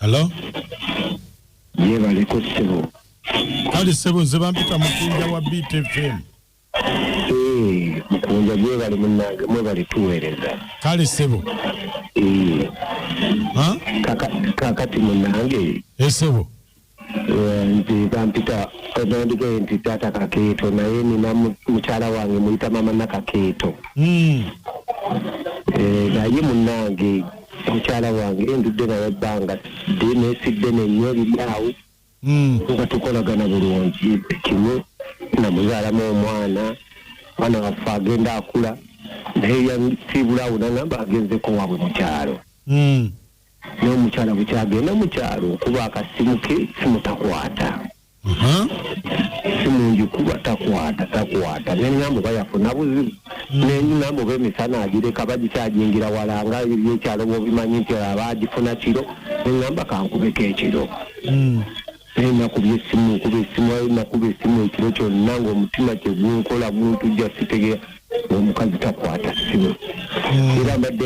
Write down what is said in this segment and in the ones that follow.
Hello? Yebaleko sebo. Kali sebo nze bampita mukunja wa Beat FM. Eh, mukunja yebale munange mwebale tuwereza. Kali sebo. Eh. Ha? Kaka kakati munange. Eh sebo. nti bampita nandikee nti taata kakeeto naye nina mukyala wange muyita mama nakakeeto hmm. eh, naye munange mukyala wange ndudde naye ebbanga dde nesidde nenyo ebiryawo hmm. nga tukolagana bulungi kimu namuzaalamu omwana mwana waffe agenda akula naye yasiibulaawo nangamba agenzeko wabwe mukyalo hmm. naye omukyala bukyagenda mu kyalo okuba akasimu ke simu takwata simungi kuba takwata takwata nengambo bayafuna buzibu nengambo bemisana agireka bagikyajingira wala nga ebyekyalo bobimanyi nti aba agifuna kiro nengamba kankubeko ekiro naye nakuba esimu nkuba esimu aye nakuba esimu ekiro kyonna ngaomutima kyegunkola guntujja sitegera omukazi takwata simu hmm. era mbadde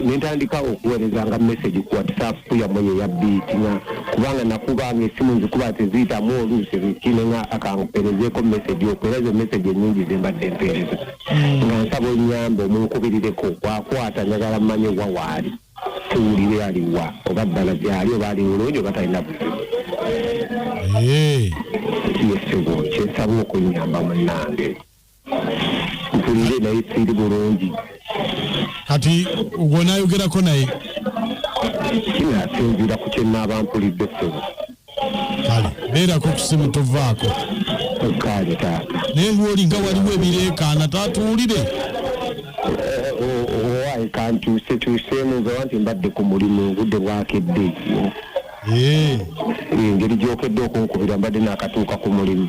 nentandika okuwereza nga message ku whatsapp yamwe yeyabiiti nga kubanga nakubanga esimu nzikuba teziyitamu oluusi zikine nga akankuperezeeko message oku era ezo message enyingi zembadde empeereza hmm. nga nsaba onyambe omunkubirireko wakwata njagala mmanye wawaali tuwulire ali wa oba ddala gyali oba ali bulungi oba talina buzibu Eh, yesebo kyensaba okunyamba munange mpulire naye siri bulungi kati gwonayogerako naye kino asinziira ku kyenaaba mpulidde sebo kale beerako kusimu tovaako kale taata naye lwolinga waliwo ebireekaana taatuwulire owaye kantuuse tuuseemu nzawa nti mbadde ku mulimu obudde bwakedde engeri gyokedde okunkubira mbadde nakatuuka ku mulimu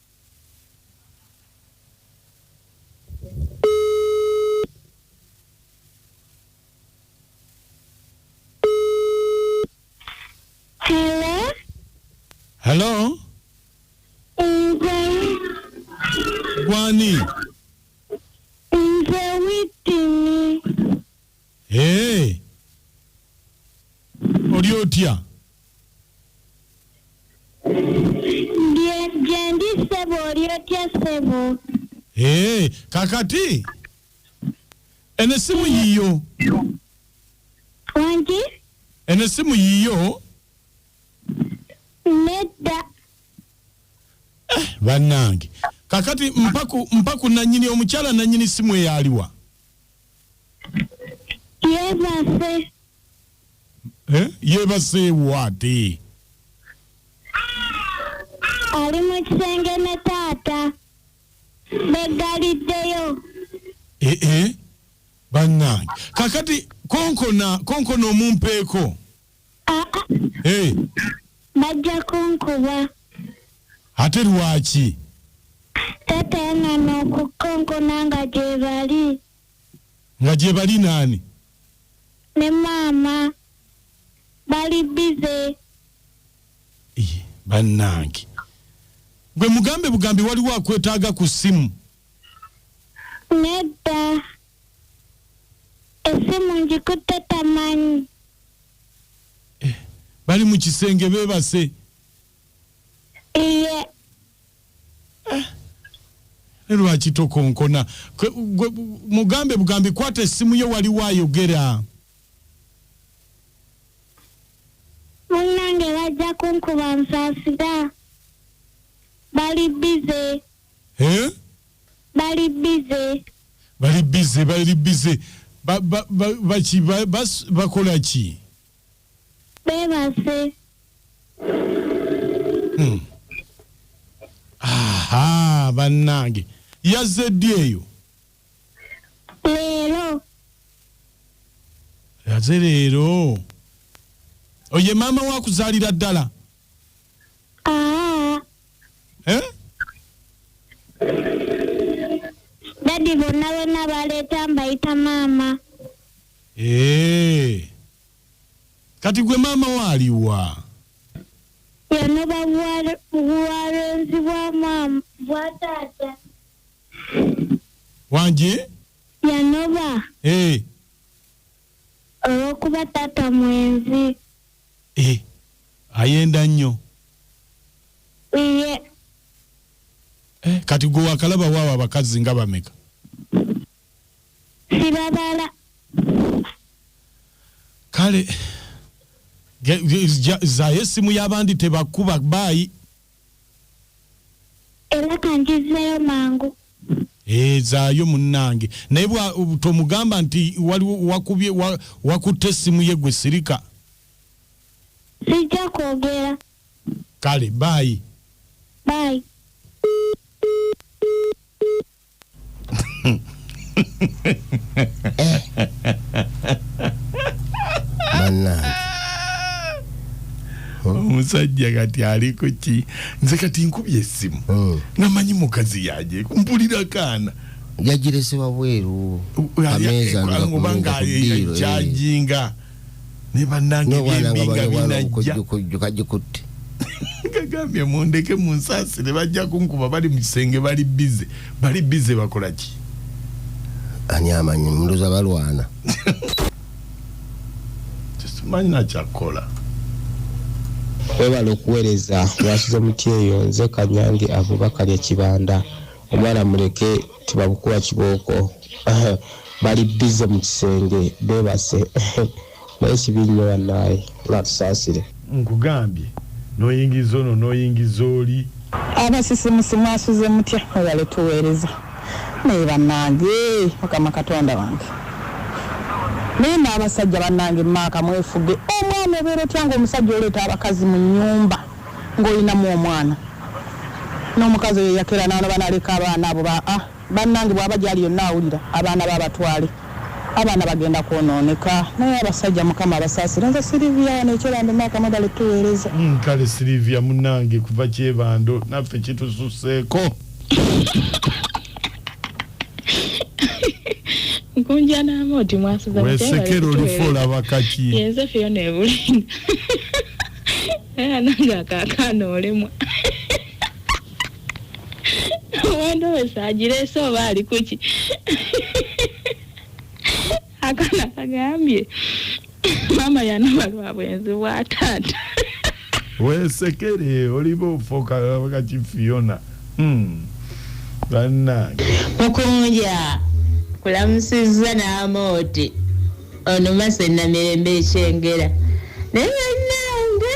Hello? Nze Gwani? nze witini Eeh oli otya? Ndi gyendi ssebo oli otya ssebo? Eeh kakati eno essimu yiyo? Wangi? Eno essimu yiyo? Nedda. Eh bannange kakati mpaku mpaku nanyini omukyala nanyini ssimu eyo aliwa? yeebase Eh? yeebaseewo ate ali mu kisenge ne taata beggaliddeyo Eh, eh. bannange kakati konkona konkona omumpeeko Eh, bajja kunkuba ate lwaki taata yanona okukonkona nga gyebali nga gye bali naani ne maama bali bize Iye, bannange gwe mugambe bugambi waliwo akwetaaga ku ssimu nedda Essimu ngikutte tamanyi. Eh, bali mu kisenge beebase. Iye. Eh, ne lwaki tokonkona mugambe bugambi kwata essimu ye waliwo ayogera. munnange bajja kunkuba nsaasira bali bize eh? bali bize bali bize bali bize baki bakola ki bebase hmm. aha bannange yazze ddi eyo leero yaze leero oye maama wakuzaalira ddala Ah, Eh? dadi bonna bonna baleeta mbayita maama Eh. kati gwe maama waaliwa yono babuwale- buwalenzi bwa maama bwa taata wangi yanoba Eh. Olw'okuba taata mwenzi. Eh, ayenda nnyo. Iye. Eh, kati gwe wakalaba waawo abakazi nga bameka? Sibabala. Kale zayo essimu y'abandi tebakuba baayi. era kanjizzeeyo mangu ezaayo munnange naye tomugamba nti waliwo wakubye wakutte essimu ye gwe sirika sijja kwogera kale baayi baayi bannange omusajja kati ali ku ki nze kati nkubye essimu Mm. namanyi mukazi yaje mpulira kaana yagirese wabweru Oba kameeza nga ku- nga ku ddiiro, eh. ng'akyajinga naye bannange ebyembi nga binajja kajikutte kagambye mundeke munsaasire bajja kunkuba bali mu kisenge bali bize bali bize bakola ki ani amanyi mundoza balwana tekimanyi nakyakukola webala okuweereza wasize mutyeyo nze kanyange avuba kalya kibanda omwana muleke tebabukuwa kibooko bali bize mu kisenge bebase naye kibi nnyo bannaaye batusaasire nkugambye noyingiza ono noyingiza oli. Abasisimusi mwasuze mutya mwebale tuwereza naye banange mukama katonda wange naye n'abasajja banange maaka mwefuge omwana obeera otya nga omusajja oleeta abakazi mu nyumba Nga olinamu omwana nomukazi oyo eyakera nanoba naleka abaana abo ba a banange bwaba gyali yonna awulira abaana be abatwale abaana bagenda kwononeka naye abasajja mukama abasasire nze Sylivia wano ekyebando maaka mwebale tuwereza. Uhmm kale Sylivia munange kuva kyebando naffe kitususeko. Nkunja naama oti mwasuza mutya bale tuwereza. Wesekera olifa olaba kaki. Yenze Fiona ebulinga. era nange akakaana olemwa wandowesa agireese oba ali kuki akana kagambye maama yanaba lwa bwenzi bwa taata wesekere oliba ofoka kaki fiona hmm. bannange mukunja kulamusizza n'amooti Ono mase namirembe ekyengera naye banange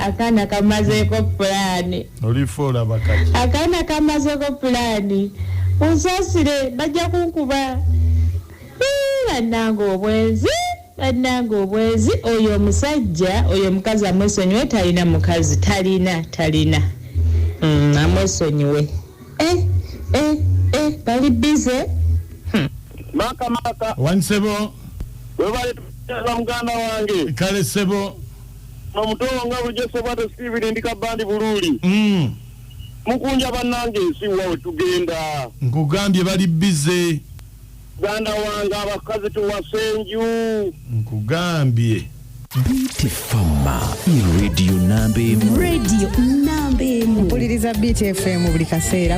akaana kamazeeko pulaani akaana kamazeeko pulaani unsasire bajja kunkuba bannange obwenzi bannange obwenzi oyo omusajja oyo omukazi amwesonyiwe talina mukazi talina talina mm, amwesonyiwe eh, eh, eh, bali bize maka maka wani sebo webale tukuteeza muganda wange kale sebo nomutowo nga bulijjo sebwate sibiri ndi kabandi buluuli mm. mukunja bannange ensi wa wetugenda nkugambye bali bize Muganda wange abakazi tuwase enju. Nkugambye. Biti Fama i radio namba emu. Radio namba emu. Mpuliriza Biti FM buli kaseera.